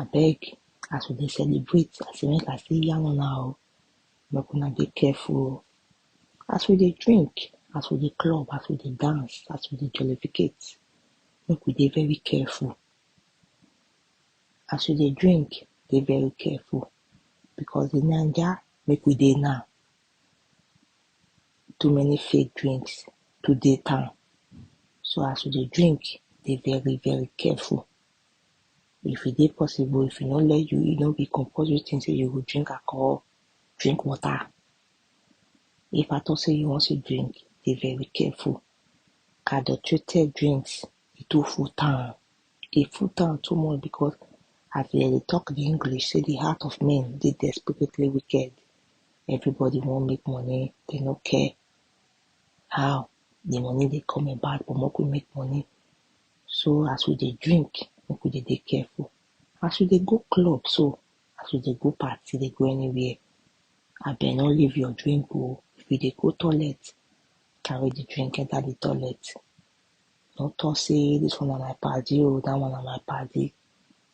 abeg as we dey celebrate I say make I still yarn una o make una dey careful o as we dey drink as we dey club as we dey dance as we dey jollificate make we dey very careful as you dey drink dey very careful because the naija make we dey now too many fake drinks too dey town so as you dey drink dey very very careful. If e dey possible if e no let you e no be compulsory thing sey you go drink alcohol, drink water. If at all sey you wan still drink dey very careful, adulterated drinks e too full town, e full town too much because as dem dey talk de English sey de heart of men dey desperately wicked, everybody wan make money dey no care how de money dey come about but make we make money. So as we dey drink, make we dey dey careful. As we dey go club so, as we dey go party, dey go anywhere, abeg no leave your drink oh. If you dey go toilet, carry the drink enter the toilet. No talk say this one na my padi oh, that one na my padi.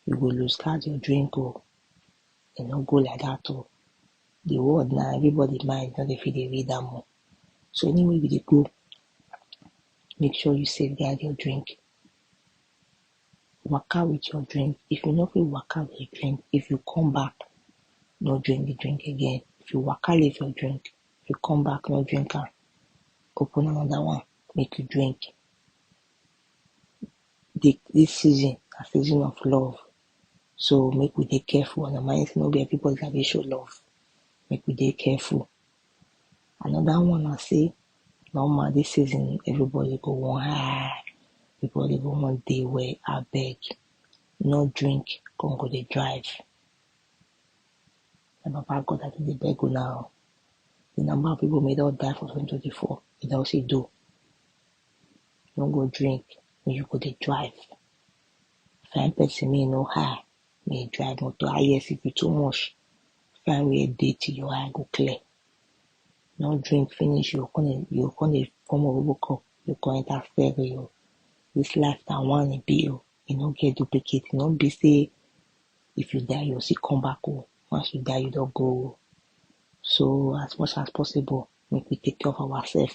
You go lose guard your drink oh. E no go like that oh. The world now, everybody mind no dey fit dey read am oh. So anywhere we dey go, make sure you safeguard your drink waka with your drink if you no fit waka with your drink if you come back no drink the drink again if you waka leave your drink if you come back no drink am open another one make you drink the this season na season of love so make we dey careful and remind say no be everybody i dey show love make we dey careful Another one na say normal this season everybody go wan high, everybody go wan dey well abeg no drink come go dey drive. Na Baba God I don dey beg una o, the number of people wey don die for 2024 e don see do, no go drink make you go dey drive, find person make e no high make e drive motor highest if e too much Find where dirty your eye go clear. No drink finish, you come dey you come dey form obobo cup, you come enter ferry o. This life na one e be o, e no get duplicate, e no be say if you die you go still come back o, once you die you don go o. So as much as possible make we take care of ourself.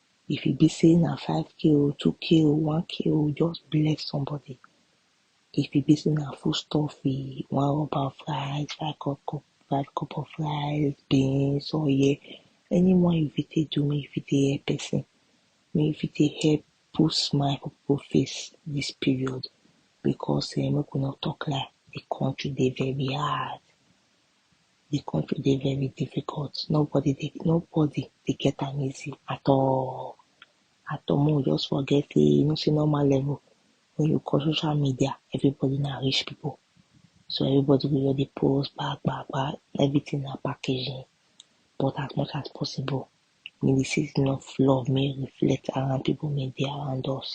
If e be sey na five k oh, two k oh, one k oh, just bless somebody If e be sey na food stuff e wan rub am for eye, five cup cup, five cup of rice, beans, oil Any one you fit take do make you fit take help person Make you fit take help put smile for people face dis period Because make we no talk lie, the country dey very hard Di country dey very difficult nobody dey nobody dey get am easy at all at all make we just forget sey you know sey normal level wen you call social media everybody na rich pipu so everybody go just dey post gba gba gba everything na packaging but as much as possible make di season of love make e reflect around pipu make e dey around us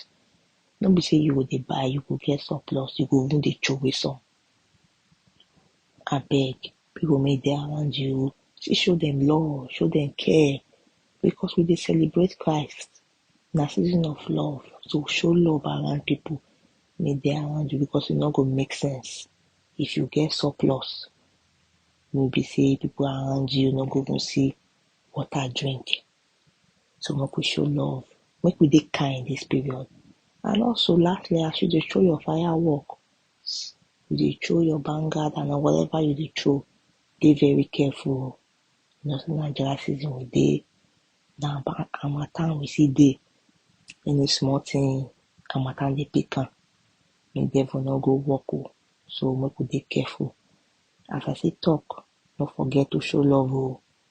no be sey you go dey buy you go get surplus you go even dey troway some. Abeg, pipu make dey around you oh, see show dem love, show dem care because we dey celebrate Christ, na season of love so show love around pipu make dey around you because e no go make sense if you get surplus wey be sey pipu around you no go even see water drink. So make we show love, make we dey kind dis period and also lastly as you dey show your fire work you dey throw your banger and na whatever you dey throw dey very careful oh you know sey na dry season we dey na harmattan we still dey any small thing harmattan dey pick am make devil no go work oh so make we dey careful as I still talk no forget to show love oh